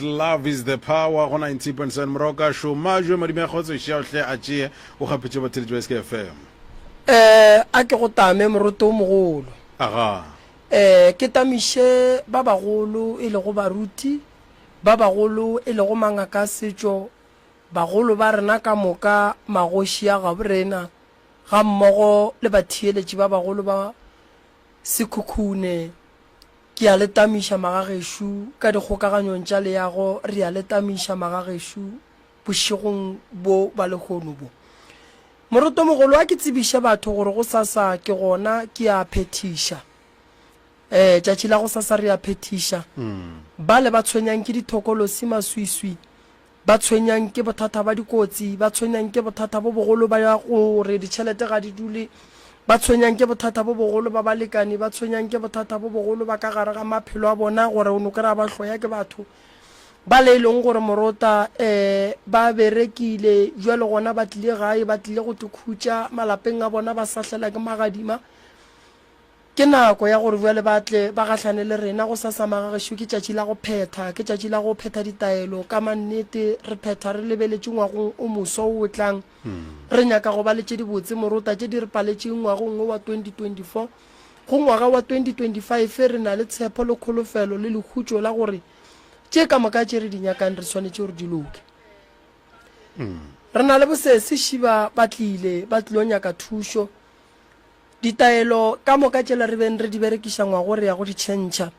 Love is the power go 90.7 Moroka šoma jo madimo ya kgotso ešea o hle a tšee o kgapetše batheletši ba SKFM. Eh, a ke go tame, moroto o mogolo. Aga. Eh, ke tamiše ba bagolo e lego baruti, ba bagolo e lego mangaka a setšo, bagolo ba rena ka moka, magoši a gaborena, gammogo le batheeletši ba bagolo ba Sekhukhune, Ke a le tamiša, magagešo, ka dikgokaganyong tša leago, re a le tamiša, magagešo, bošegong bjo bja lehono bjo. Morotomogolo, a ke tsebiše batho gore gosasa ke gona, ke a phethiša. Ee, tšatši la gosasa re a phethiša. Bale ba tshwenyang ke dithokolosi, maswiswi, ba tshwenyang ke bothata ba dikotsi, ba tshwenyang ke bothata bo bogolo ba ya gore ditšhelete ga di dule, ba tshwenyang ke bothata bo bogolo ba balekane, ba tshwenyang ke bothata bo bogolo ba ka gare ga maphelo a bona gore o no kry-a ba hloya ke batho bale e leng gore morota um ba berekile jwale gona ba tlile gae ba tlile go tikhutša malapeng a bona ba sahlela ke magadima. Ke nako ya gore bjale ba tle ba gahlane le rena. Go sasama ga gešo ke tšatši la go phetha, ke tšatši la go phetha ditaelo. Ka mannete, re phetha re lebeletše ngwagong o moswa wo o tlang. Re nyaka go ba le tše dibotse, morota, tše di re paletšeng ngwagong wo wa 2024. Go ngwaga wa 2025 re na le tshepho le kholofelo le lekhutšo la gore tše ka moka tše re di nyakang re swanetše gore di loke. Re na le bosesi, Šiba ba tlile, ba tlilo nyaka thušo. Ditaelo ka moka tšela re beng re di berekiša ngwago re ya go di tšhentšha.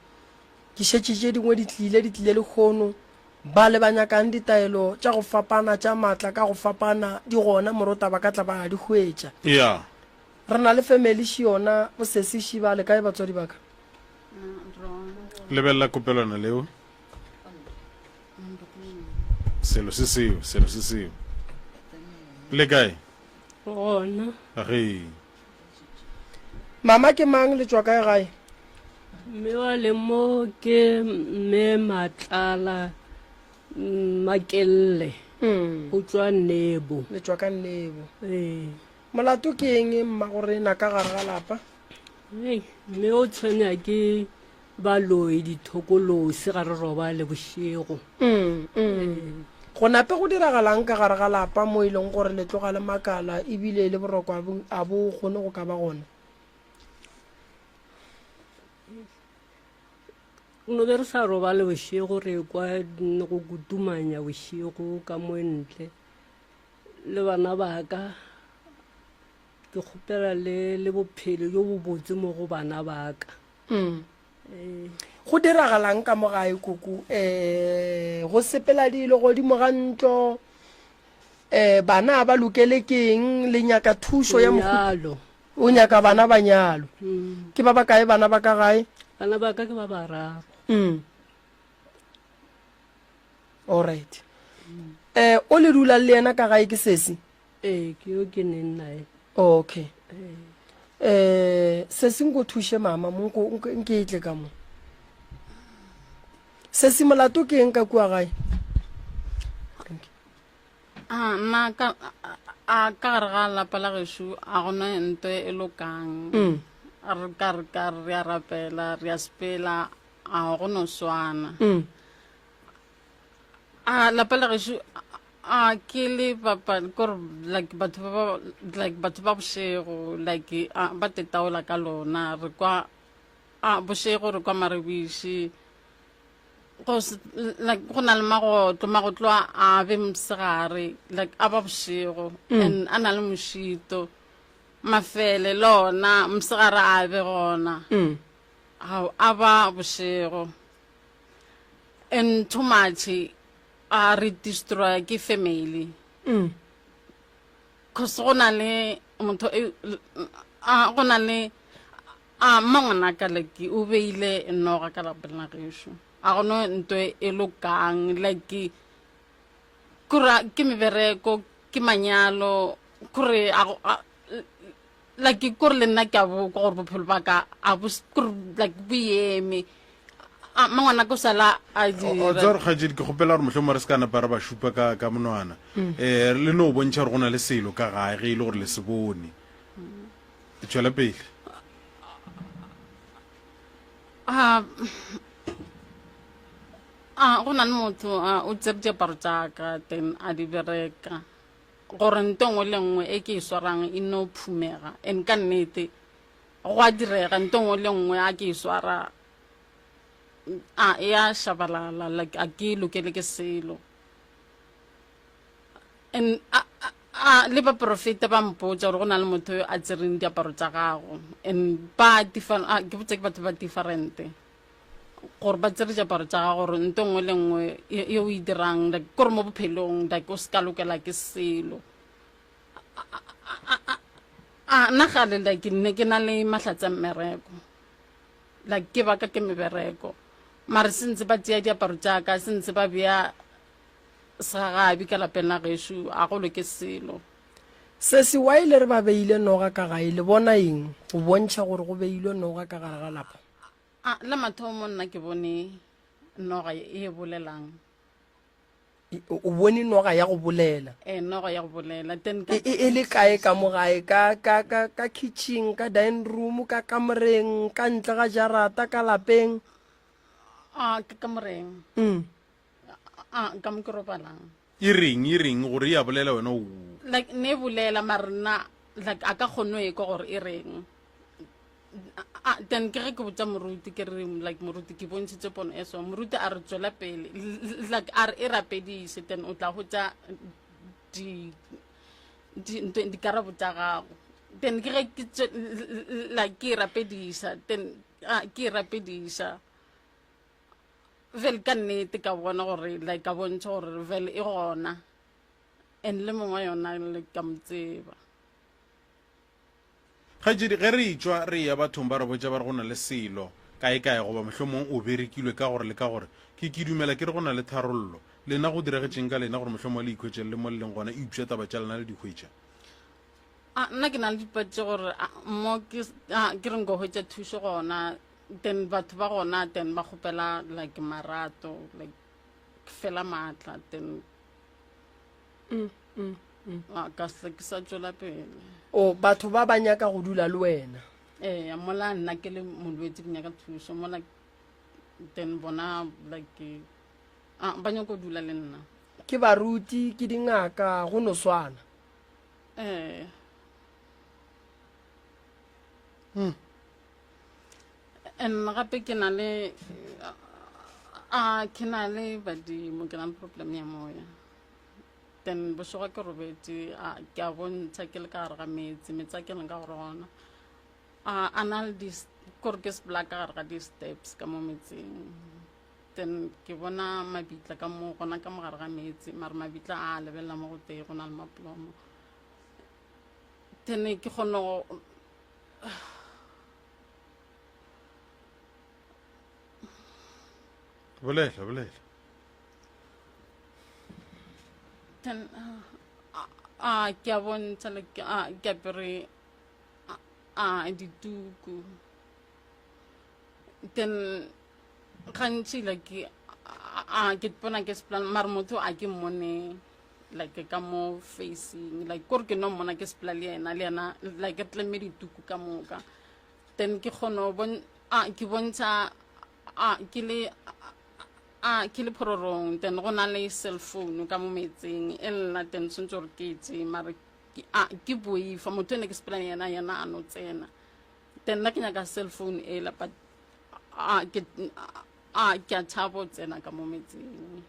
Ke šetše tše dingwe di tlile, di tlile lehono. Bale ba nyakang ditaelo tša go fapana tša maatla ka go fapana di gona, morota ba ka tla ba di hwetša. Eya. Re na le family ši yona bosesi ši. Ba le kae batswadi ba ka? Lebelela kopelwana leo. Selo se seo, selo se seo. Le kae? gona Re. mama ke mang le tšwa kae gae mme wa le mo ke mme matlala mm, makelle Mm, go tswa nebo le tšwa ka nnebo ee molato ke eng mma go rena ka gare ga lapa Hei, mme o tshwenya ke ba loe dithokolosi ga re robale bošego go nape go diragalang ka gare ga lapa mo e leng gore le tloga le makala ebile le boroko a bo- a bo kgone go ka ba gona no be re sa robale bošego re kwa n- go kutumanya bošego ka mo ntle le bana baka ke kgopela le le bophelo jo bobotse mo go bana baka mm. Eh. go diragalang ka mo gae koko um eh, go sepela dilo godimo ga ntlo um bana ba lokele keng le nyaka thušo ya moalo o nyaka bana ba nyalo mm. ke ba ba kae bana ba ka gae bana ba ka ke ba bararo mm. allright um o le dulang le yena ka gae ke sese ee ke yo ke neng nae okay eh se se nko thushe mama monko nke itle ka mo se se molato ke eng ka kua gae a ah, ma ka a ka gare ga lapa la gešu a gona nto e lokang mm. re ka re ka re a rapela re a sepela a go no swana mm. a lapa la gešo a ke le bapa kore like batho ba ba- like batho ba bošego like a ba tetaola ka lona re kwa a bošego re kwa marebiši go se- like go na le magotlo magotlo a a be mosegare like a ba bošego and a na le mošito mafele le ona mosegare a be gona Mm. ga a ba bošego and too much a re destroya ke family mm. cause go na le motho e, go na le a mma ngwana ka like o beile noga ka lapeng la gešo a gone nto e, e lokang like kura ke mebereko ke manyalo kore like kore le nna ke a bo kwa gore bophelo ba ka a bo s- kore like bo eme a mma ngwana ko sala a O- o tseba dira gore kgaetšedi ke kgopela gore mohlomong re se ka napa re ba šupa ka ka monwana um le no bontšha gore go na le selo ka gae ge e le gore le se bone tšwela pele a a go na le motho a o tsere diaparo tša ka then a di bereka gore nto nngwe le nngwe e ke e swarang e no phumega and ka nnete go a direga nto nngwe le nngwe a ke e swara a e a shabalala like a ke lokele ke selo and a, a, a le baporofeta ba mpotsa gore go na le motho yo a tsereng diaparo tsa gago and ba different a ke botse ke batho ba differente gore ba tsere diaparo tša gago gore nto nngwe le nngwe ye o e dirang like kore mo bophelong like o se ka lokela ke selo a nna gale like nne ke na le mahlatse a mmereko like ke baka ke mebereko mare se ntse ba tseya diaparo jaaka se ntse ba beya segagabi ka lapeng la gešu a go loke selo se se wa ile re ba beile noga ka gae le bona eng go bontšha gore go beilwe noga ka gare ga lapa A, la mathomo nna ke bone noga e bolelang E- o o bone noga ya go bolela e noga ya go bolela then ka e e- e le kae ka mo gae ka ka ka ka kitchen ka dining room ka kamoreng ka ntle ga jarata ka lapeng a ke ka moreng mm. a ka mo ke robalang e reng e reng gore e a bolela wena o like ne e bolela mara nna like a ka kgone go ekwa gore e reng Ah, then ke ge ke botsa moruti ke re like moruti ke bontshitse pono e so moruti a re tswela pele L- l- like a re e rapedise then o tla hotsa di di- ntho- dikarabo tsa gago then ke ge ke tswe- l- l- like ke e rapedisa then ah, ke e rapedisa vele ka nnete ka bona gore like ka bontšha gore vele e gona and le mongwa yona le ka mo tseba kgaetšedi ge re itšwa re ya bathong ba re botša ba re go na le selo kae kae goba mohlomong o berekilwe ka gore le ka gore ke ke dumela ke re go na le tharollo lena go diregetšeng ka lena gore mohlomong le ikhwetšele le mo le leng gona eupša taba tša lena le dikhwetša a nna ke na le dipatše gore mo ke reng go hwetša thušo gona then batho ba gona then ba kgopela like marato like fela maatla then mm, mm, mm. Ah, ka se ke sa tswela pele o batho ba ba nyaka go dula le wena ee mola nna ke le molwetse ke nyaka thuso mola then bona like ah, ba nyako dula le nna ke baruti ke dingaka go no swana ee hmm. and gape ke na le a ke na le badimo ke na le problem ya moya then bošego ke robetse ke a bontsha ke le ka gare ga metsi metsi a ke leng ka gore gona a na le kore ke sepela ka gare ga di-steps ka mo metsing then ke bona mabitla ka mo gona ka mo gare ga metsi mare mabitla a lebelela mo go tee go na le mapolomo tene ke kgona go bolela bolela ten a ke a bontsha le ke a ke apere a dituku then gantši like a ke bona ke seplan mare motho a ke mmone like ka mo facing like kore ke no mmona ke sepela le yena le yena like re tlemme dituku ka moka then ke kgono ke bontsha ke le a ke le phororong then go na le cell phone ka mo metseng e lela then tshwanetse gore ke etse mare ke boifa motho ene ke sepela le yena yena a no tsena then nna ke nyaka cell phone e la but ke a tshabo tsena ka mo metseng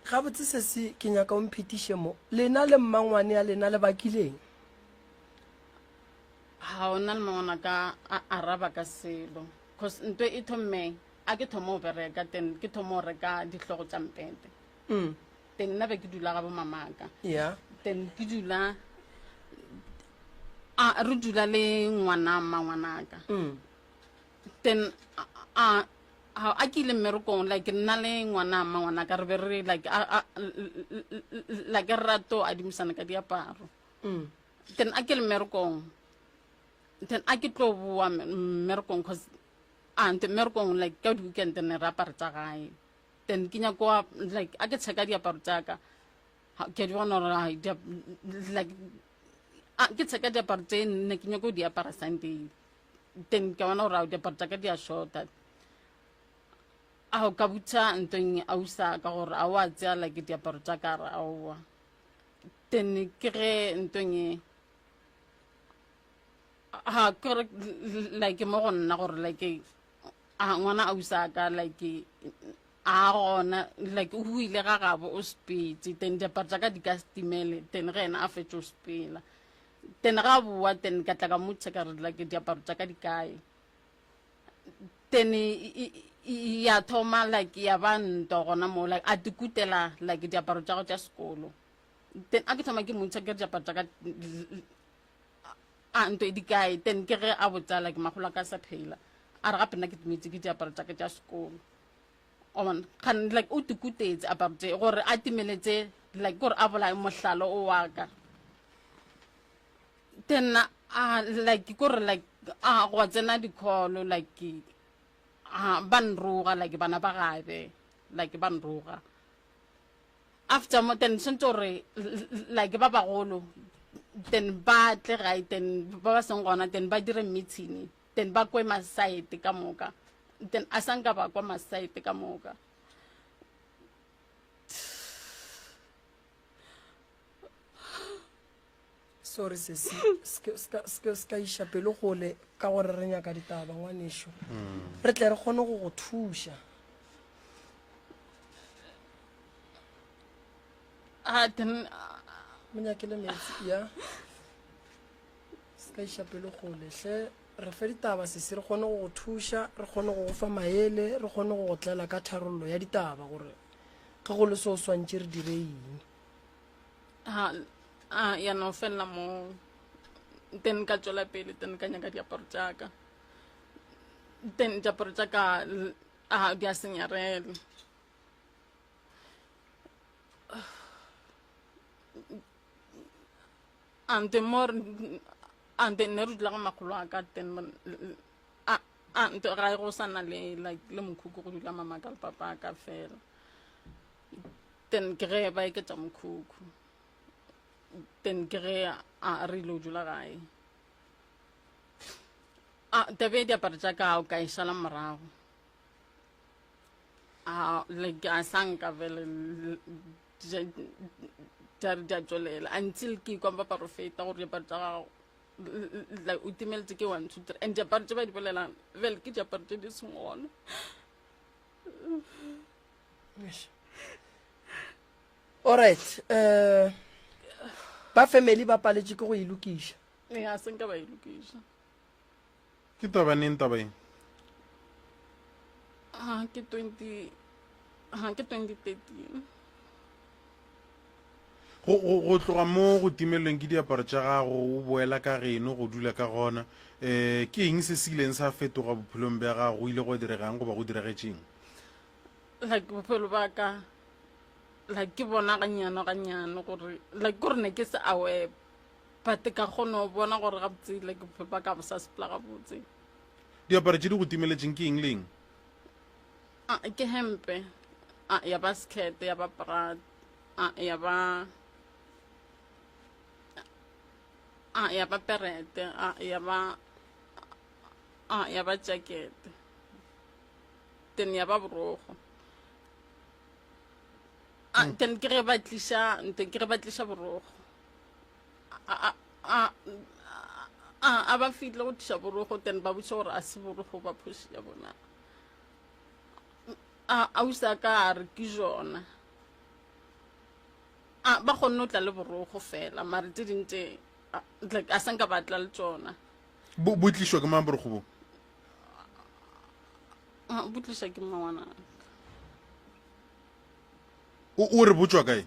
gabotse sese ke nyaka o mphetiše mo lena le mmangwane ya lena le bakileng ga o na le mangwana ka a araba ka selo cause nto e thomme a ke thomo o bereka ten ke thomo o reka dihlogo tša mpete mm. ten nna be ke dula ga bomamaka ya ten ke dula a re dula le ngwana mma ngwanaka mm. then a a a ke ile mmerekong like nna le ngwana mma ngwana ka re be re like a a like re rato adimisana ka diaparo Mm. then a ke le mmerekong then a ke tlo boa me- mmerekong cause a nte mmerekong like ka di-weekend ne re apare tsa gae then ke nyako wa- like a ke tsheka diaparo tsaka Ha- ke a di bona gore ai, dia- like a ke tsheka diaparo tse nne ke nyako di apara sunday then ke bona gore ao diaparo tsa ka di a shorta a o ka butha ntong a usa ka gore a o a tsea like diaparo tsa ka re aowa then ke ge ntong e ha ke re like mo go nna gore like a ngwana a usa ka like a gona like o buile ga gabo o sepetse then diaparo tsa ka di ka setimele then ge ena a fetše o sepela then ga boa then ka tla ka motšha ka re like diaparo tša ka di kae then ya thoma like ya ba nto gona mo like a tikutela like diaparo tša go tša sekolo then a ke thoma ke motšha ke re diaparo tša ka a nto e di kae then ke ge a botsa like magola ka sa phela a re gape nna ke tmetše ke diaparo tša ka tša sekolo on kan like o tukutetse about it gore a timeletse like gore a bolae mohlalo o wa ka then a ah, like gore like a ah, go tsena dikholo like a ah, ba nroga like bana ba gabe like ba nroga after mo then sentse gore like ba bagolo then ba tle gae then ba ba seng gona then ba dire meeting then ba kwe masaete ka moka then a sa nka ba kwa masaete ka moka sorry sesi se ka iša pelo gole ka gore re nyaka ditaba ngwanešo hmm. re tle re kgone go go thuša a ah, then ah. monyakele metsi ya Se ka iša pelo kgole. Hle, re fe ditaba, sesi, re kgone go go thuša, re kgone go go fa maele, re kgone go go tlela ka tharollo ya ditaba, gore ge go le se o swantše re dire eng. Ha, a, ya no felela moo. Then ka tšwela pele, then ka nyaka diaparo tšaka. Then diaparo tšaka, l- a, di a senyarela. ante mo ante nne re dula ga makgolo a ka ten ante ga e go sa na le like le mokhukhu go dula mama ka le papa a ka fela ten ke ge ba eketša mokhukhu ten ke ge a re ile o dula gae a tabe diaparo tša ka o ka e šala morago a like a sanka vele ja re ja tswelela until ke kwa ba profeta gore diaparo tsa gago like o timeletse ke one two three and diaparo tse ba di bolelang bjale ke diaparo tse di seng gona alright um ba family ba paletše ke go e lokiša ee a senka ba e lokiša Ke taba neng taba eng? Ha ke 20 ha ke 2013. Go go go tloga mo go timelweng ke diaparo tša gago o boela ka geno go dula ka gona. Eh ke eng se se ileng sa fetoga bophelong bja gago go ile go diregang goba go diregetseng? Like bophelo ba ka like ke bona ganyano ganyano gore like gore ne ke se aware But ka kgona go bona gore gabotse like bophelo ba ka bo sa sepela gabotse. Diaparo tše di go timeletšeng ke eng le eng? Ah, ke hempe. Ah, ya ba skirt, ya ba bra. Ah, ya ba Ah, ya ba perete. Ah, ya ba Ah, ya ba jacket. Then ya ba borogo. Ah, then ke ge ba tliša, then ke ge ba tliša borogo. a ba fihle go tliša borogo then ba botša gore a se borogo ba phoši ya bona a o sa ka a re ke jona a ba kgonne go tla le borogo fela mare tse ding tse a sa nka batla le tsona bo bo tlišwa ke mang borogo bo bo tliša ke mmawanaka o re botswa kae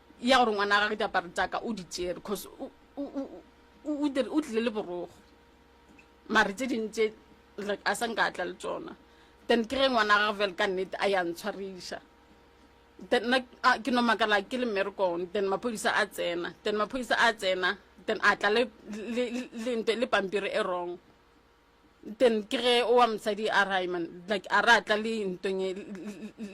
ya gore ngwana gage diaparo tsaka o di tšere cause o tlile le borogo mare tse ding tse like a sa nka tla le tsona then ke ge ngwana gage fela ka nnete a ya ntshwariša then nna ke no makala ke le mmerekong then maphodisa a tsena then maphodisa a tsena then a tla le pampiri e wrong. then ke ge o wa mosadi a ra man like a ra tla le ntong e-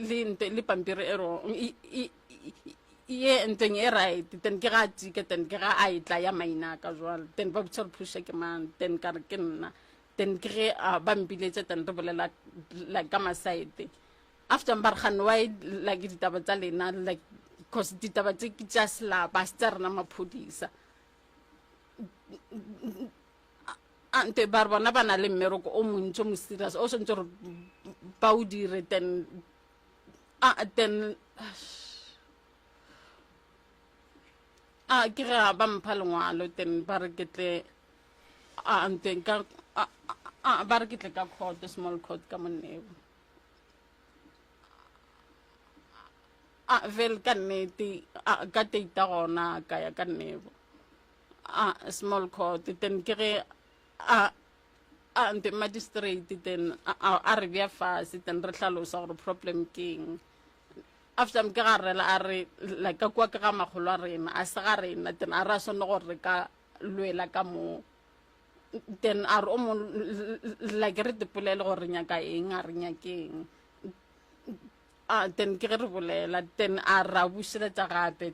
le nto le pampiri e rong e- e- e- ye ntong e right then ke ga a tika then ke ga a e tla ya maina ka jwalo then ba botsa re phusha ke mang then ka re ke nna then ke ge a ba mpiletša then re bolela like ka masaete after ba re gane wa like ditaba tsa lena like because ditaba tse ke tša selapa se tsa rena maphodisa ante bare bona ba na le mmereko o montsi o mo serious o swantse gore ba o dire then a then a ke re a ba mpha lengwalo then ba re ke tle a ante ka a a ba re ke tle ka court small court ka moneo a vel ka nnete a ka teita gona ka ya ka nnebo a small court then ke ge a a nte magistrate then a re bja fase then re hlalosa gore problem ke eng after ke ga rela a re like ka kwa ke ga magolo a rena a se ga rena then a re a swanne gore re ka lwela ka moo then a re o mo like re dipolele gore re nyaka eng a re nyakeng a then ke ge re bolela then a ra bušeletsa gape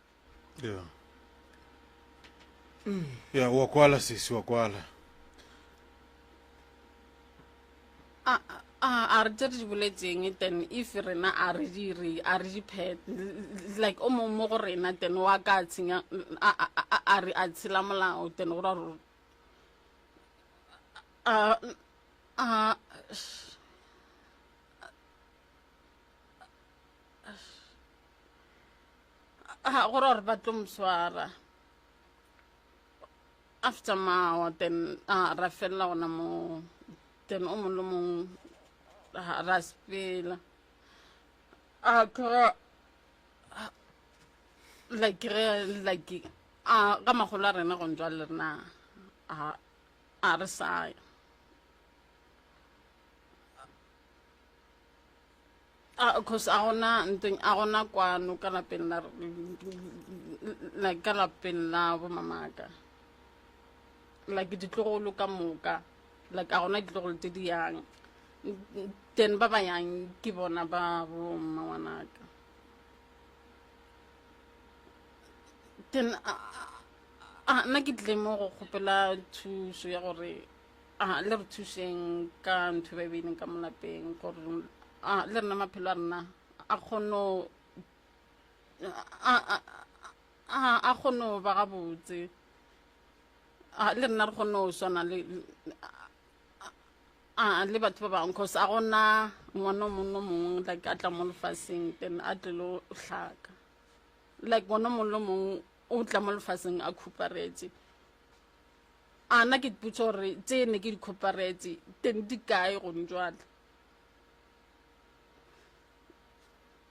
ya ya wa kwala sesi wa kwala a a- a re tse re di boletseng ten if rena a re dire a re diphet like o mongwe mo go rena ten wa ka a tshenya a a- a- a- a re a tshela molao ten go ra gore a a Ah, gore gore ba tlo mo swara after mawa then a ra felela gona mo then o mongwe le mongwe ah, ra sepela a kere like ge like a ka magolo a rena go njwa le rena a a re saya Ah, cause a gona nteng a gona kwano ka lapeng la like ka lapeng la bo mamaka like ditlogolo ka moka like a gona ditlogolo tse di yang then ba ba yang ke bona ba bo mma ngwanaka then a- a- a- nna ke tlile mo go kgopela thuso ya gore a le re thušeng ka ntho e ba e beileng ka molapeng gore a le rena maphelo a rena a kgono a- a- a- a kgono ba gabotse a le rena re kgono swana le a le batho ba bangwe cause a gona ngwana o mongwe le mongwe like a tla mo lefaseng then a tlelo hlaka like ngwana o mongwe le mongwe o tla mo lefaseng a khuparetse A na ke dipotsa gore tse ne ke di kgoparetse teng di kae gone jwale?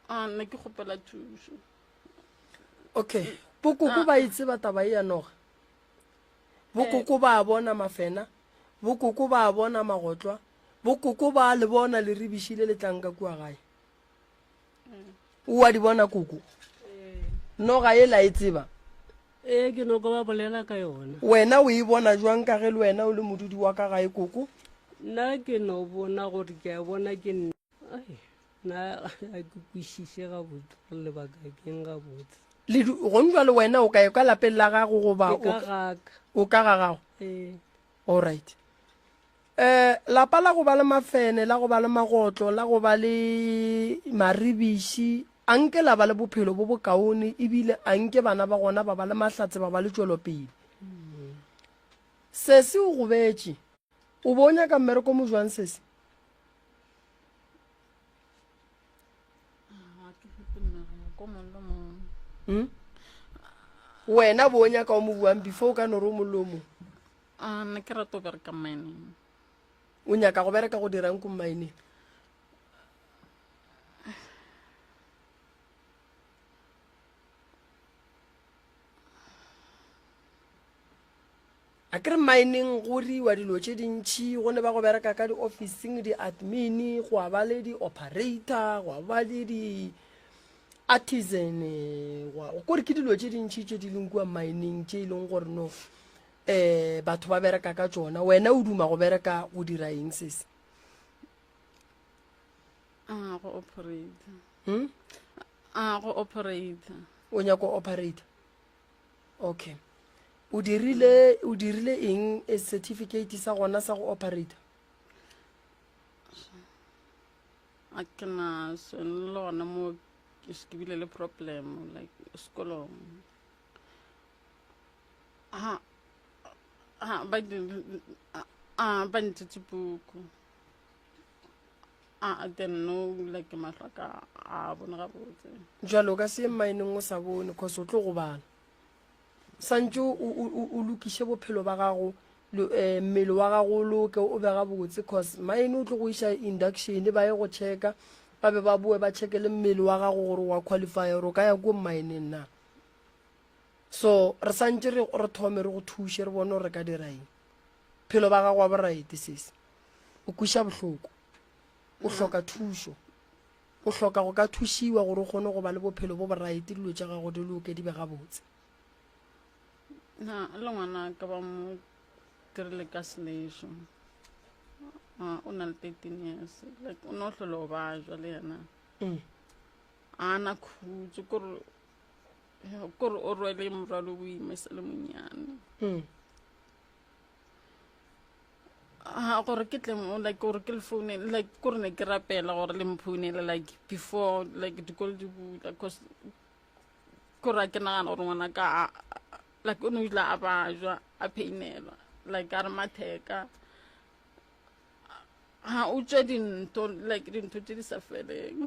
A na ke kgopela thuso. Okay. Bokoko ba itseba taba e ya noga. Bokoko ba a bona mafena. Bokoko ba a bona magotlwa. Bokoko ba le bona le ribišile le tlanka kua gae. o a di bona koko noga e la e tseba ee ke noko ba bolela ka yona wena o e bona jwang ka ge le wena o le modudi wa ka gae koko nna ke no bona gore ke a bona ke nna nna a ke kwešiše gabotse gore lebaka keng gabotse gong jwa le wena o ka e ka lapeng la gago goba o ka ga gago ee. all right E, lapa la go ba le mafene, la go ba le magotlo, la go ba le maribiši, a nke la ba le bophelo bo bokaone, ebile a nke bana ba gona ba ba le mahlatse, ba ba le tšwelopele. Sesi o gobetše. O bo o nyaka mmereko mo jwang, Sesi? Hmm? wena bo o nyaka o mo buang before o ka no re o mollo o mong A ne ke rata go bereka mining. O nyaka go bereka go dirang ko mining? a ke re mining go riwa dilo tše dintšhi go ne ba go bereka ka di-officing di-admin go a ba le di-operator go a ba le di-artisan kore ke dilo tše dintšhi tše di leng kua mining tše e leng gore no eh batho ba bereka ka tšona wena o duma go bereka go dira eng sese a go operator hmm? a go operator o nyako operator okay o dirile o dirile eng a certificate sa gona sa go operator a ke na sone le gona mo ke bile le problem like sekolong ha ha ba a ba ntitse puku a a then no la ke mahlo ka a bone gabotse jalo o ka se ye mmaeneng o sa bone cause o tlo go bala santse o- o o- o lokiše bophelo ba gago lo- eh, mmele wa gago o loke o be gabotse cause maene o tlo go iša induction ba ye go checka ba be ba boe ba checke le mmele wa gago gore wa qualify gore o ka ya ko mmaeneng na so re santse re re thome re go thushe re bone gore re ka dira eng phelo ba gago wa boraete sese o kweša bohloko o hloka thušo o hloka go ka thušiwa gore o kgone go ba le bophelo bo boraete dilo tša gago di loke di be gabotse na le ngwana ka ba mo dirile ka selešo o na le thirteen years like o ne o tlhole o ba jwa le yena mm. a na khutso kore kore o rwele morwalo o ime se le monyane hmm. a gore ke tle mo like gore ke le foune like kore ne ke rapela gore le mphounele like before like dikolo di bula cause kore a ke nagana gore ngwana ka like o ne o ile a bajwa a pheinelwa like a re matheka ha o tswe dintho like dintho tse di sa feleng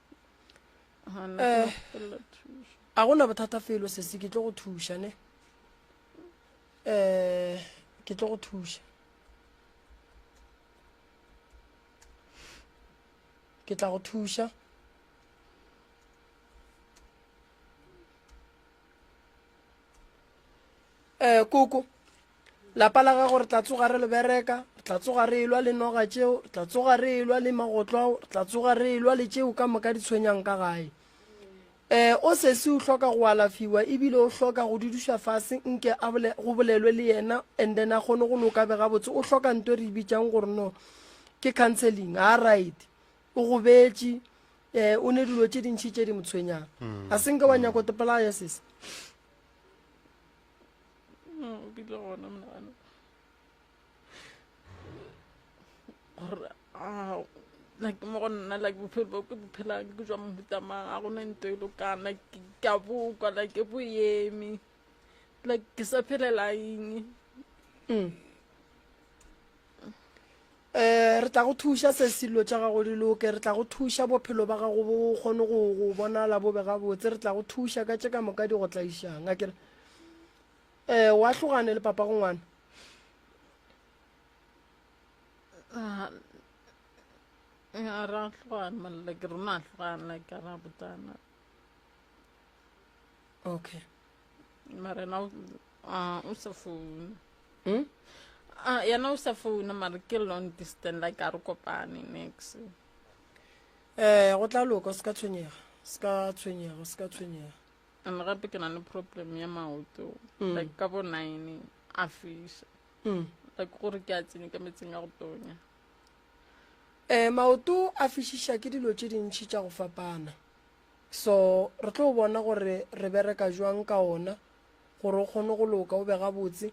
eh a gona bothata felo sesi ke tlo go thuša ne eh ke tlo go thuša ke tla go thuša eh koko Lapa la gago re tla tsoga re le bereka, re tla tsoga re elwa le noga tšeo, re tla tsoga re elwa le magotlo ao, re tla tsoga re elwa le tšeo ka moka di tshwenyang ka gae. Eh, o sesi o hloka go alafiwa ebile o hloka go duduša fase nke a bole, go bolelwe le yena and then a kgone go loka be gabotse o hloka nto re bitsang gore no ke counseling ga right o go betše um eh, o ne dilo tše dintšhi tše di motshwenyang mm, a senke wa mm. nyako topolaya sese no ke tlo gona monagano gore a like mo go nna like bophelo bo ke bophelang ke jwa mohutamang a gona nto e lokana ka bokwa like ke boyeme like ke sa phelela eng mm. Re tla go thuša se silo tša gago di loke. Re tla go thuša bophelo ba gago bo kgone go go bonala bo be gabotse. Re tla go thuša ka tše ka moka di go tlaišang. A kere um wa hlogane le papa go ngwana? Ah, ra hlogana molla ke rona a hlogana ka ra botana. Okay. mara na o ah, o sa founa hmm? ah, yena o sa founa mara ke long distance like a re kopane next um eh, go tla loka se ka tshwenyega se ka tshwenyega se ka tshwenyega and gape ke na le problem ya maoto hmm. like ka bo nine a fisa hmm. like gore ke a tsenye ka metseng ya go tonya um maoto a fišiša ke dilo tše dintšhi tša go fapana So, re tlo bona gore re bereka jwang ka ona, gore o kgone go loka, o be gabotse.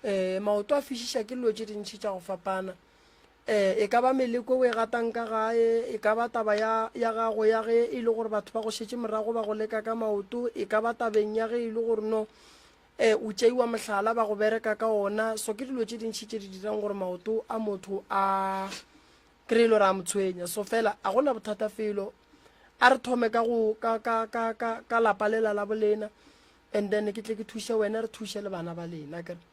Um maoto a fišiša ke lilo tše dintši tša go fapana. Um e ka ba meleko e o e gatang ka gae, e ka ba taba ya, ya gago ya ge e le gore batho ba go šetše morago ba go leka ka maoto, e ka ba tabeng ya ge e le gore no um o tšeiwa mohlala ba go bereka ka ona. So ke dilo tše dintši tše di dirang gore maoto a motho a, Ke re e lo re a mo tshwenya, so fela a go na bothata felo. A re thome ka go ka ka ka ka ka lapa lela la bolena and then ke tle ke thuše wena re thuše le bana ba lena ke re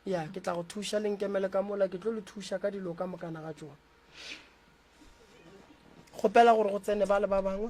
ya ke tla go thuša le nkemele ka mola ke tlo le thuša ka dilo ka mokana ga tsone kgopela gore go tsene ba le ba bangwe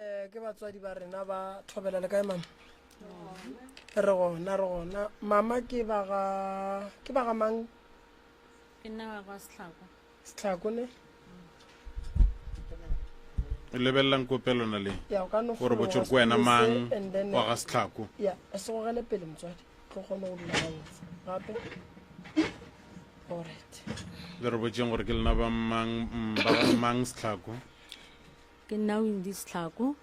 Eh, ke batswadi ba rena ba thobela le kae mama re gona re gona mama ke baga ke baga mang ke nna ba kwa setlhako setlhako ne o lebelelang ko pelona le ya o ka no gore botse gore ko wena mang wa ga setlhako ya e se gogele pele motswadi tlo kgone go dula gantsi gape orit le re botseng gore ke lena ba mang mm, ba ga mang setlhako Ke nna Windis Tlhako,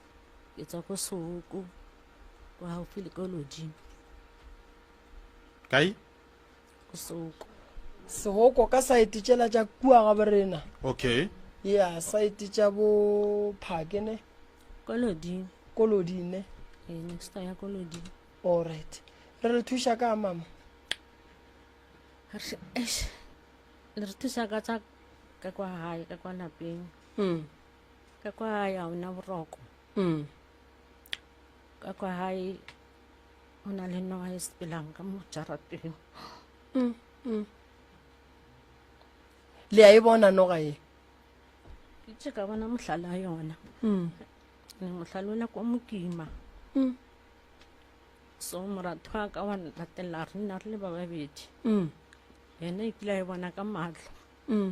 ke tswa ko Sooko, ko gaufi le ko Lodimo. Kae? Ko Sooko. Sooko ka saete tšela tša kua ga borena. Okay. Yeah, saete tša bo Phake ne. Ko Lodimo. Ko Lodimo ne. Ee, eh, next ya ko Lodimo. All right. Re le thuša ka mama. Re thuša ka tsa ka kwa gae ka kwa lapeng. mm. ka kwa gae ga ona boroko mm. ka kwa gae go na le noga e sepelang ka mo jarateng mm, mm. le a e bona noga e ke tse ka bona mohlala yona mm. ne mohlala o la kwa mokima mm. so moratho wa ka wa latela re nna re le ba babedi mm. yena e kile a e bona ka matlho mm.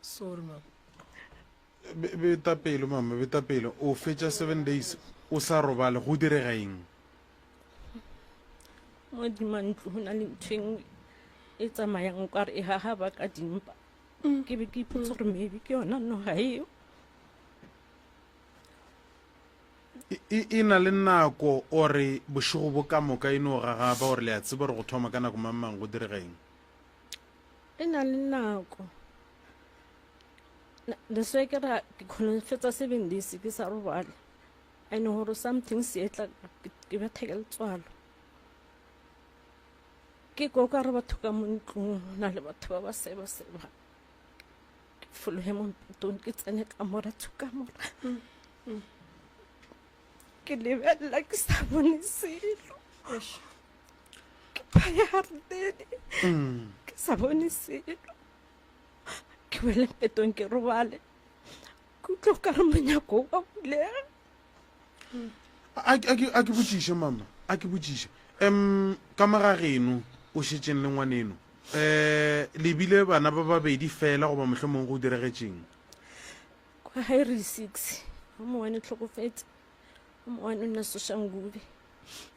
Sorry mama. Be, beta pelo mama, beta pelo. O fetša seven days o sa robale, go direga eng? Modima ntlo go na le ntho e nngwe e tsamayang o kare e gaga ba ka dimpa. Mm. Ke be ke ipotsa gore maybe ke yona noga eo. e na le nako ore bošego bo ka moka e no gagaba gore le a tseba gore go thoma ka nako mang mang go direga eng E na le nako re se ke ra ke kgona go fetsa seven days ke sa robale and gore something se etla ke betha ke letswalo ke ko ka re batho ka mo ntlong na le batho ba ba seba seba ke fologe mo mpetong ke tsene ka mora tshuka mora ke lebelela ke sa bone selo ke phaya gardene mm. ke sa bone selo ke wele petong ke robale ke utlwa o ka re monyako wa bulega a ke botšiše mama a ke botšiše um ka moga geno o šetseng le ngwaneno um eh, lebile bana ba babedi fela goba motlho mongwe go diregetseng kwa hire six a mowane tlhokofetse a mowane o nna sošangube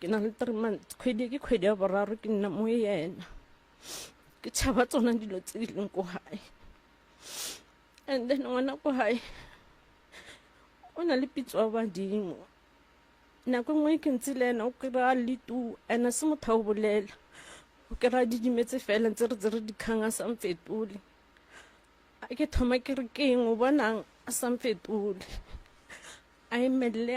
Ke na le three months, kgwedi e ke kgwedi ya boraro ke nna mo yena. Ke tšhaba tsona dilo tse di leng ko gae and then ngwana ko gae o na le pitso ya badimo. Nako e nngwe ke ntse le ena o kry-a le two and-e se motho wa go bolela, o kry-a didimetse fela ntse re tsere dikgang a sa nfetole. A ke thoma ke re keng o bonang a sa nfetole, a emelele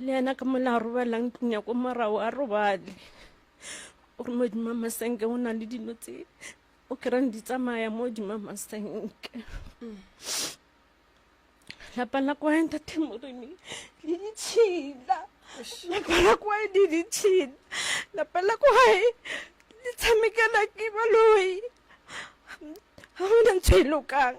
le yena ka mo le a robala ntlong ya ko morago a robale gore modimo masenke o na le dilo tse o kerang di tsamaya mo modimo masenke lapa la kwa entatemoremi le ditšhila lapa la kwa di ditšhila lapa la kwae le tshamekela ke baloi ga gona ntho e lokang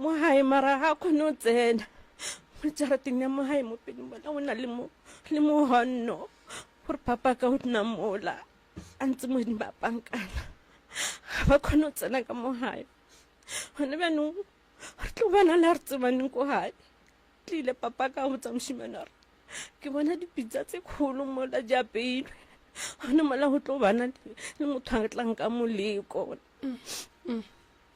mo gae mara ga a kgone go tsena mo jarateng ya mo gae mo pelong bona o na le mogonno gore papa ka o nna mola a ntse modimo ba pankana ga ba kgone go tsena ka mo gae gone bjanong re tlo bana le a re tsebaneng ko gae tlile papa ka go tsa mošimane gore ke bona dipitsa tse kgolo mola di apeilwe gone mola go tlo bana le motho a tlang ka moleko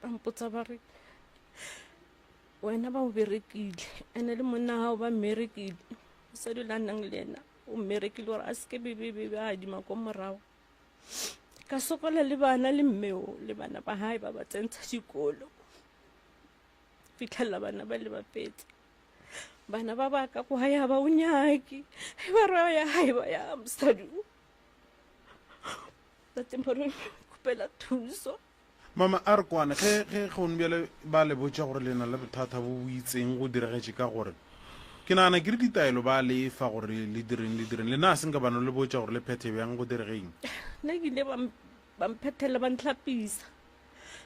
ba mpotsa ba re wena ba o berekile ene le monna gago ba mmerekile mosadi o le a nang le ena o mmerekile gore a seke bebebebe a adima ko morago ka sokola le bana le mmeo le bana ba gae ba ba tsentsha dikolo fitlhelela bana ba le bapetse bana ba baka go haya ba o nyake e ba re ya gae ba ya mosadi o tateng ba re kopela thuso Mama, a re kwane, ge, ge, gone bjale ba le botša gore le na le bothata bo bo itseng, go diregetše ka gore, ke nagana ke re ditaelo ba le fa gore le direng, le direng. Le naa se nka ba no le botša gore le phethe bjang, go diregeng? Nna ke ile ba, ba mphethela, ba ntlhapisa.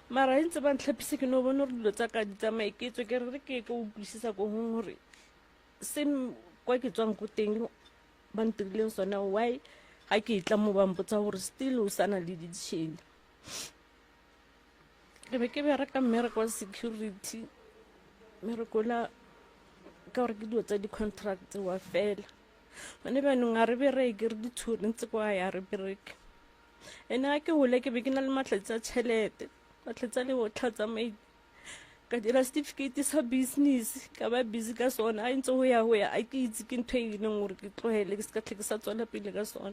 Mara ge ntse ba ntlhapisa ke no bona gore dilo tsa ka di tsamaye, ke tswe ke re re ke ko utlwisisa ko gong gore se kwa ke tswang ko teng ba ntirileng sona, why ga ke e tla mo ba mpotsa gore still o sa na le ditšhene. ke be ke bereka mmereko wa security mmereko la ka gore ke dilo tsa di-contract wa fela gone bjanong ga re bereke re ditshwere ntse kwa ya re bereke ene ga ke gole ke be ke na le matlhatsi a tšhelete matlhatsi a le botlha tsamaile ka dira certificate sa business ka ba busy ka sona a ntse go ya go ya a ke itse ke ntho e leng gore ke tlogele ke se ka tlhe ke sa tswela pele ka sona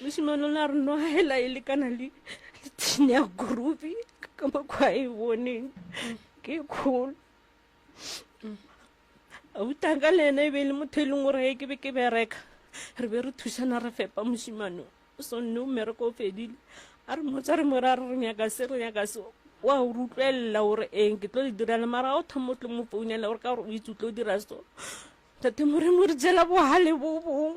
mosimane o ne a re no hela e lekana le tshine ya groove ka mokgwa a e boneng ke e kgolo autaka le ene e be e le motho e leng gore ge ke be ke bereka re be re thusana re fepa mosimane o sonne o mmereko o fedile a re motsa re mo ra re re nyaka se re nyaka se wa o re utlwelela gore eng ke tlo le direla mara ga o thoma o tlo mo founela gore ka gore o itse o tlo dira so tate moreng o re jela bohale bo bong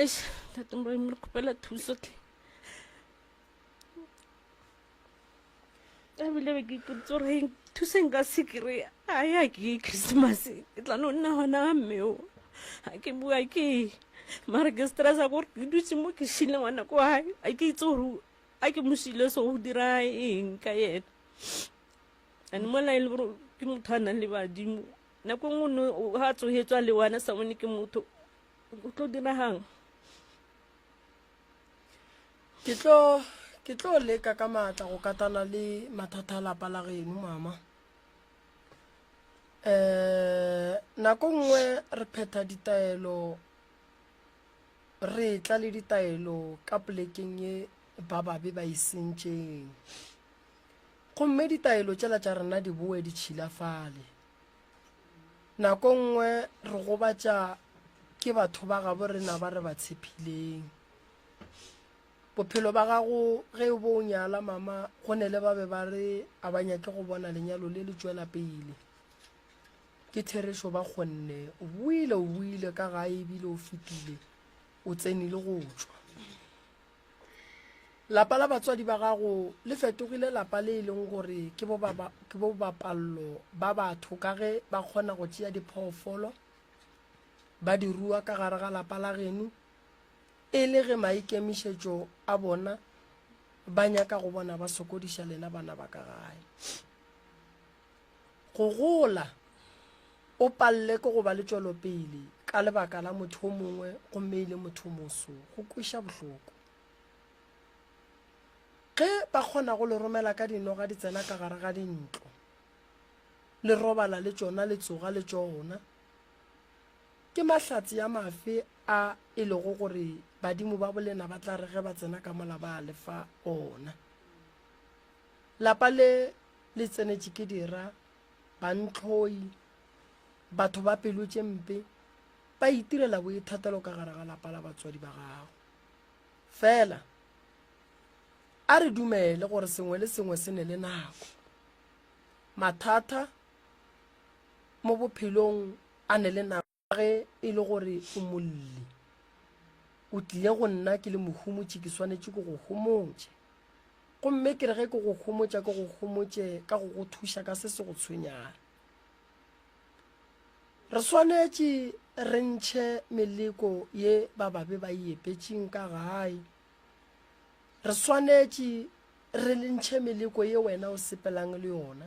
eish ntate moremi re kgopela thuso tle ebile be ke ipotse gore eng thuso nka se kry-a a ya ke christmas ke tla no nna gona ga mmeo ga ke bua ke mare ke stressa kore ke dutse mo ke shile ngwana ko gae a ke itse gore a ke mo shile so go dira eng ka yena and mola e le gore ke motho a nang le badimo Nako nngwe no ha a tsohetswa le wana sa bone ke motho o tlo dirahang ke tlo ke tlo leka ka maatla go katana le mathata a lapa la geno mama eh nako nngwe re phetha ditaelo re tla le ditaelo ka polekeng ye ba babe ba e sentšeng gomme ditaelo tšela tša rena di boe di tšhilafale Nako nngwe re gobatša ke batho ba gabo rena ba re ba tshepileng. Bophelo ba gago ge o bo o nyala mama go ne le ba be ba re a ba nyake go bona lenyalo le le tšwela pele. Ke therešo ba kgonne o boile o boile ka gae ebile o fetile o tsenile go tšwa. Lapa la batswadi ba gago le fetogile lapa le e leng gore ke bobapallo ba batho ka ge ba kgona go tšea diphoofolo ba di rua ka gare ga lapa la geno e le ge maikemišetšo a bona ba nyaka go bona ba sokodiša lena bana ba ka gae. Go gola, o palle ke go ba le tšwelopele ka lebaka la motho o mongwe gomme e le motho moso, go kweša bohloko. Ge ba kgona go le romela ka dinoga di tsena ka gare ga dintlo, le robala le tšona, le tsoga le tšona, ke mahlatse a mafe a e lego gore badimo ba bolena ba tla re ge ba tsena ka mola ba a le fa ona? Lapa le le tsenetše ke dira, bantlhoi, batho ba pelo tše mpe, ba itirela boithatelo ka gare ga lapa la batswadi ba gago. Fela, a re dumele gore sengwe le sengwe se ne le nako. Mathata mo bophelong a ne le nako. Ge e le gore o molli, o tlile go nna ke le mohumotši, ke swanetše ke go homotše. Gomme ke re ge ke go homotša, ke go homotše ka go go thuša ka se se go tshwenyago. Re swanetše re ntšhe meleko ye ba babe ba e epetšeng ka gae. Re swanetše re ntšhe meleko ye wena o sepelang le yona.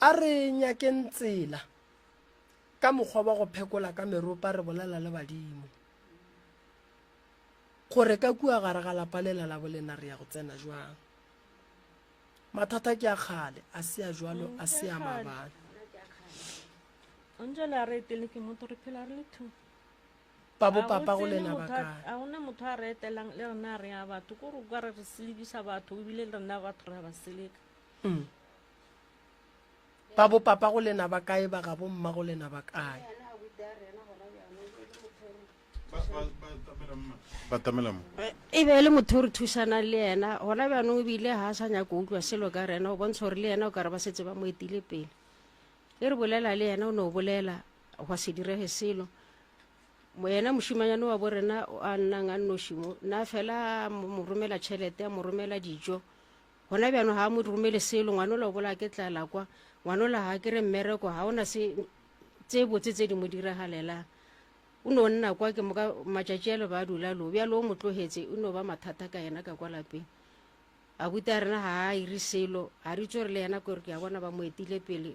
A re nyakeng tsela ka mokgwa wa go phekola ka meropa re bolela le badimo gore ka kua gare ga lapa lela la bolena re ya go tsena jwang. Mathata ke a kgale, a se a jwalo, a se a maabane. Angela a re pele ke motho re phela re le two ba bopapa go lena ba kae a gona motho a re etelang le rena re ya batho ko re kwa re re selekiša batho ebile le rena batho re ya ba seleka mm. ba bopapa go lena ba kae ba gabo mma go lena ba kae e be e le motho o re thušanang le yena gona bjanong ebile ga a sa nyako utlwa selo ka rena o bontsha gore le yena o ka re ba setse ba mo etile pele e re bolela le yena o ne o bolela Gwa se direge selo. Moyena mošimanyane wa borena o a nnang a nnoši mo, na fela a mo mo romela tšhelete, a mo romela dijo. Gona bjano ga a mo romele selo, ngwanola o bola ke tlala kwa, ngwanola ga kere mmereko, ga ona se tse botse tse di mo diragalelang. O no nna kwa ke moka matšatši a le ba dula lo, bjalo o mo tlogetse, e no ba mathata ka yena ka kwa lapeng. Abuti a rena ga a iri selo, ga re itse gore le yena kore ke a bona ba mo etile pele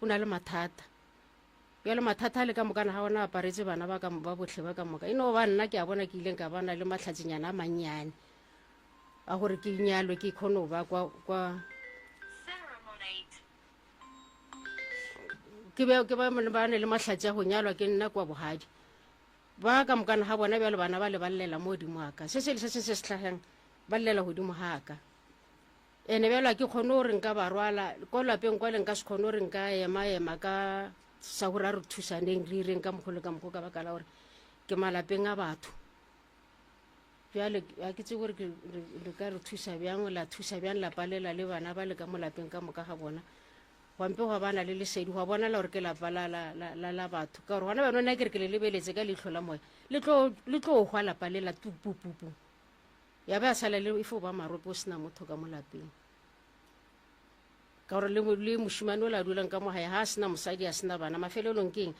o na le mathata bjalo mathata a le ka mokana ga ona aparetse bana ba ba botlhe ba ka moka e no ba nna ke a bona ke ileng ka bana le matlhatsenyana a mannyane a gore ke nyalwe ke kgone go ba kwa kwa ke be ke ba mone ba ne le mahlatse a go nyalwa ke nna kwa bogadi ba ka mokana ga bona bjalo bana ba le ba llela mo godimo wa ka se se le se seng se se tlhageng ba llela godimo ga ka Ene bjalo ga ke kgone gore nka ba rwala ko lapeng kwale nka se kgone gore nka ema-ema ka sa gore a re thusaneng re ireng ka mokgo le ka mokgo ka baka la gore ke malapeng a batho bjale ga ke tsebe gore le ka re thusa bjang la thusa bjang la palela le bana ba le ka mo lapeng ka moka ga bona gwampe gwa bana le lesedi gwa bonala gore ke lapa la batho ka gore gona bjano nna kere ke le lebeletse ka leitlho la moya le tlo hwa lapa lela tupupupu ya be ya sala le e fo ba marope o sena motho ka mo lapeng ka gore le mo- le mošimane o la dulang ka mo gae ga a sena mosadi a sena bana mafelelong keng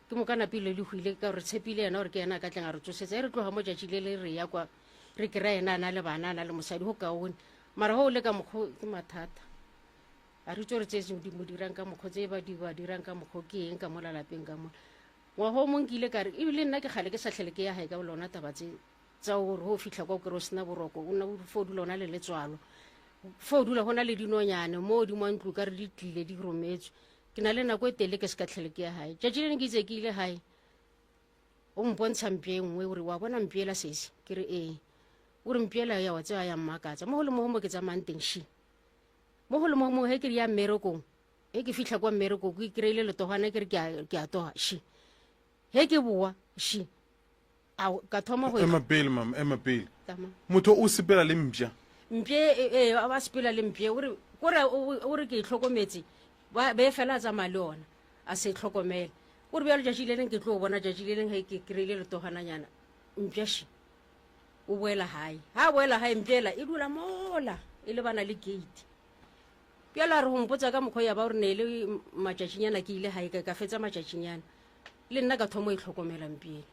ke mo kana pele le hwile ka gore tshepile yena gore ke yena a ka tleng a re tsosetsa e re tloga mo tšatši le le re ya kwa re kry-a yena a na le bana a na le mosadi go kaone mara go o le ka mokgo ke mathata a re tso re tsetse di mo dirang ka mokgo tse ba di ba dirang ka mokgo ke eng ka mo lalapeng ka mo ngwaga o mong ke ile ka re ebile nna ke kgale ke sa tlhele ke ya gae ka lona taba tse tsa gore o fitlha kwa o kere o sena boroko o nna o fo dula o na le letswalo fo o dula go na le dinonyane mo o dimo ntlo ka re di tlile di rometswe ke na le nako e tele ke se ka tlhele ke ya gae tšatši le ne ke itse ke ile gae o mpontsha mpie e nngwe ore wa bona mpiela sese ke re ee o re mpiela ya wa tseba ya mmakatsa mo go le mogo mo ke tsamayang teng shi mo go le mogo mo he ke re ya mmerekong e ke fitlha kwa mmereko ke kry-ile letogwana ke re ke a toga shi he ke boa shi A ka thoma go ema pele mama ema pele motho o sepela le mpša mpše ee a ba sepela le mpše ore kore o re ke e tlhokometse ba be fela a tsamaya le ona a se tlhokomela kore bjalo tšatši le leng ke tlo bona tšatši le leng ge ke kry-ile letogananyana mpšaši o boela gae ga a boela gae mpšela e dula mola e le bana le gate bjalo a re go mpotsa ka mokgwa ya ba gore ne e le matšatšinyana ke ile gae ka fetsa matšatšinyana le nna ka thomo e tlhokomela mpšela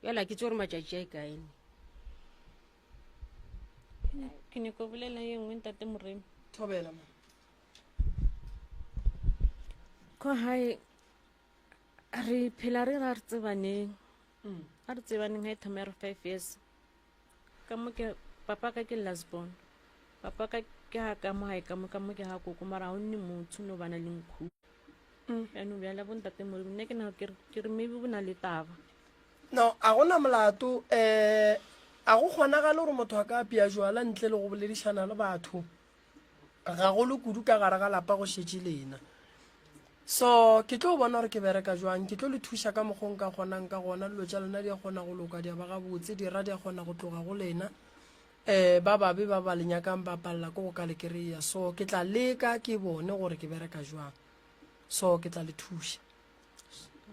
bjale a ke tse gore matšatši a e kaene ke nyako bolela ye nngwe ntate moremi thobela ma ko gae re phela re ra re tsebaneng mm. a re tsebaneng ga e thoma ya re five years ka mo ke papa ka ke last born papa ka ke ha ka mo hae ka mo ka mo ke ha koko mara ha o nne motho no bana le nkhu eno bjala bo ntate mo nne ke na ke re- ke re maybe bo na le taba no a gona molato um a go kgonagale gore motho a ka apea jwala ntle le go boledišana le batho gagolo kudu ka gare ga lapa go šetše lena so ke tlo bona gore ke bereka jwang ke tlo le thuša ka mokgong ka kgonang ka gona dilo tša lena di a kgona go loka di a ba gabotse dira di a kgona go tloga go lena um ba babe ba ba le nyakang ba palela ko go ka le kry-a so ke tla leka ke bone gore ke bereka jwang so ke tla le thuša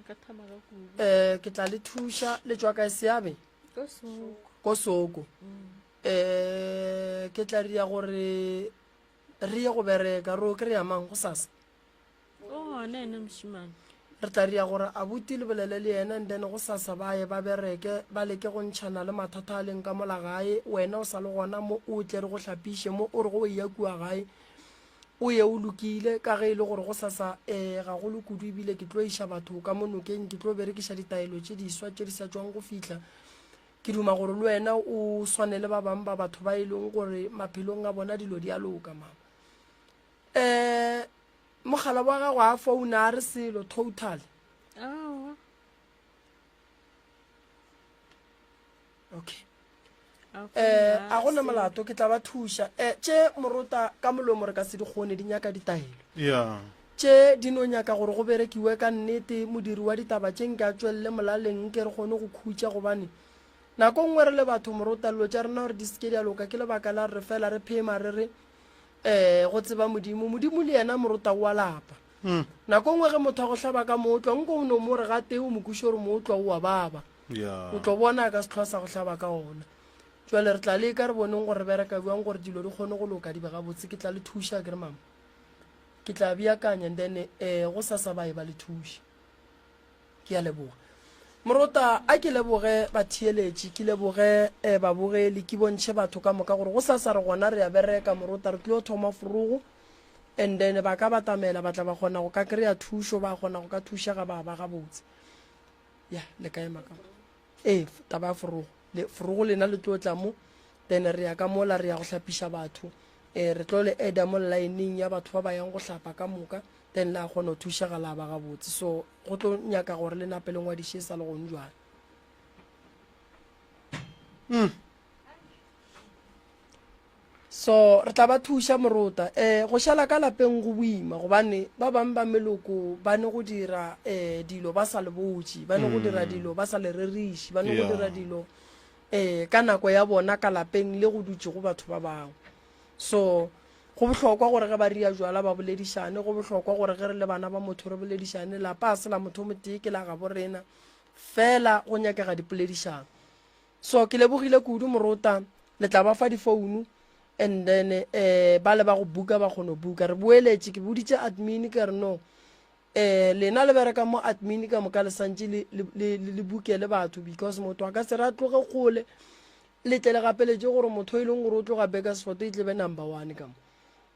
um ke tla le thuša le tswa kae seabe ko soko mm. E, ke tla ria gore re ye go bereka, re o kry-a mang go sasa? O gona ene mošimane. Re tla ria gore abuti le bolele le yena and then go sasa ba ye ba bereke, ba leke go ntšhana le mathata a leng ka mola gae. Wena o sa le gona mo, o tle re go hlapiše mo, o re go eya kua gae o ye o lokile ka ge e le gore go sasa um ga go le kudu ebile ke tlo iša batho ka mo nokeng ke tlo berekiša ditaelo tše diswa tše di sa tšwang go fihla Ke duma gore le wena o swane le ba bang ba batho ba e leng gore maphelong a bona dilo di a loka mama um mogala wa gago a founa a re selo total okay um a gona molato ke tla ba thuša um tše morota ka molomo re ka se di kgone di nyaka ditaelo ya Tše di no nyaka gore go berekiwe ka nnete, modiri wa ditaba tše nke a tšwelele molaleng nke re kgone go khutša gobane nako nngwe re le batho morota llo tša rena gore di se ke di a loka ke lebaka la re fela re phema re re um go tseba Modimo. Modimo le yena morota o a lapa. Mm. Nako nngwe ge motho a go hlaba ka mootlwa nko o no mo re gate o mo kuše gore mootlwa o a baba. Yeah. O tlo bona ka setlhwa sa go hlaba ka ona. Jwale re tla leka re boneng gore re bereka bjang gore dilo di kgone go loka di be gabotse. Ke tla le thuša ke re mama. Ke tla beakanya and then eh go sasa ba eba le thuši. Ke a leboga. Morota, a ke leboge batheeletši, ke leboge eh babogeli, ke bontšhe batho ka moka gore go sasa re gona re a bereka, Morota, re tlio thoma forogo and then ba ka batamela ba tla ba kgona go ka kry-a thušo, ba kgona go ka thušega ba ba gabotse. Yeah, le ka ema ka. Ee, taba ya forogo. Le, forogo lena le tlo tla mo, then re ya ka mola, re ya go hlapiša batho. Eh, re tlo le eda mo lineng ya batho ba ba yang go hlapa ka moka, then la kgona go thušega la ba gabotse. So, go tlo nyaka gore le nape le ngwadiše e sa le gong jwale. Mm. So re tla ba thuša morota. Eh, go šala ka lapeng go boima gobane ba bang ba meloko ba ne go dira eh dilo ba sa le botši, ba ne go dira mm. dilo ba sa le reriši, ba ne go dira dilo eh ka nako ya bona ka lapeng le go dutše go batho ba bangwe. So go bohlokwa gore ge ba ria jwala ba boledišane, go bohlokwa gore ge re le bana ba motho re boledišane. Lapa a se la motho o motee ke la gabo rena, fela go nyakega dipoledišano. So ke lebogile kudu morota le tla ba fa difounu and then eh ba le ba go buka ba kgono buka re boeletše ke boditše admin ka re no eh lena le bereka mo admin ka moka le santše le le le buke le batho because motho a ka se re a tloge kgole le tle le gapeletše gore motho e leng gore o tloga Bakersford e tlebe number one ka mo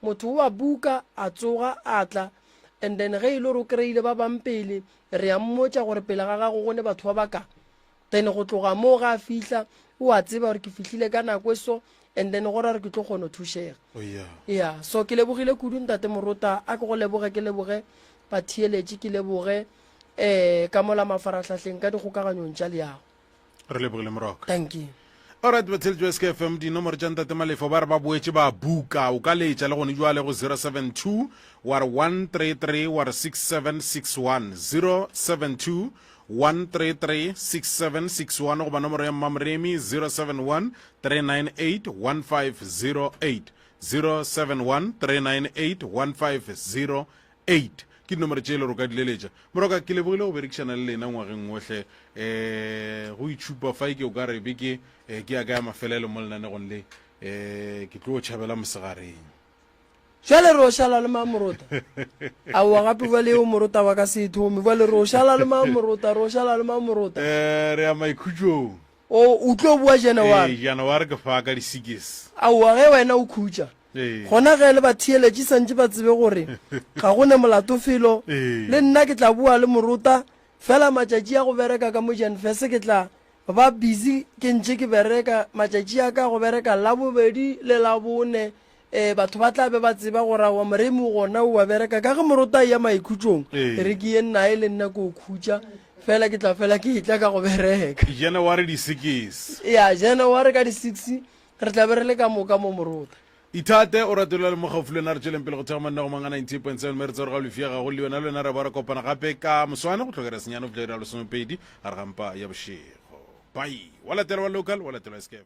motho wa buka a tsoga a tla and then ge e le gore o kry-ile ba bang pele re ya mmotša gore pele ga gago go ne batho ba baka then go tloga moo ga a fihla o a tseba gore ke fihlile ka nako e so and then go ra gore ke tlo kgona go thušega oh, ya so ke lebogile kudu ntate morota a ke go leboge ke leboge batheeletše ke leboge um ka mola mafaratlhatlheng ka dikgokaganyong tša leago re lebogile moroka thank you orit batheletši ba sk fm dinomoro tša ntate malefo ba re ba boetše ba buka o ka leetša le gone jwale go 072 wa re 133 wa re 6761 072 1336761 goba nomoro ya mmamoremi 071 398 1508 071 398 1508 ke dinomoro tše e le gore o ka dileletša moroka ke lebogile go berekišana le lena ngwageng wohle um go itšhupa fa ke o ka re beke um ke ya ka ya mafelelo mo lenanegong le um ke tlo tšhabela mosegareng Jwale re o šala le mang morota? Aowa gape bjale eo morota wa ka se e thome. Bjale re o šala le mang morota? Re o šala le mang morota? Eh, re ya maikhutšong. O, o tlo boa Janaware. Ee, Janaware ke fa ka di-six. Aowa ge wena o khutša. Ee. Gona ge le batheeletši santše ba tsebe gore ga go ne molato felo, Ee. le nna ke tla boa le morota, fela matšatši a go bereka ka mo Janvese ke tla, Ba busy ke ntše ke bereka, matšatši a ka go bereka Labobedi le Labone, e, batho ba tla be ba tseba gore aowa Moremi o gona o a bereka. Ka ge moroto a eya maikhutsong, Ee. re ke ye nae le nna ko khutša, fela ke tla fela ke etla ka go bereka. January di six. Ya, January ka di six re tla be re le ka moka mo morota. Ithate o ratolela le mo gaufi le wena re tšweleng pele go thekga monna go mang a 98.7 me re tsa gore ga o lefia gago le wena le wena re ba re kopana gape ka moswane go tlhokera senyane go fihla ira lesomepedi gare ga mpa ya bošego pai wa latela wa local wa latela escape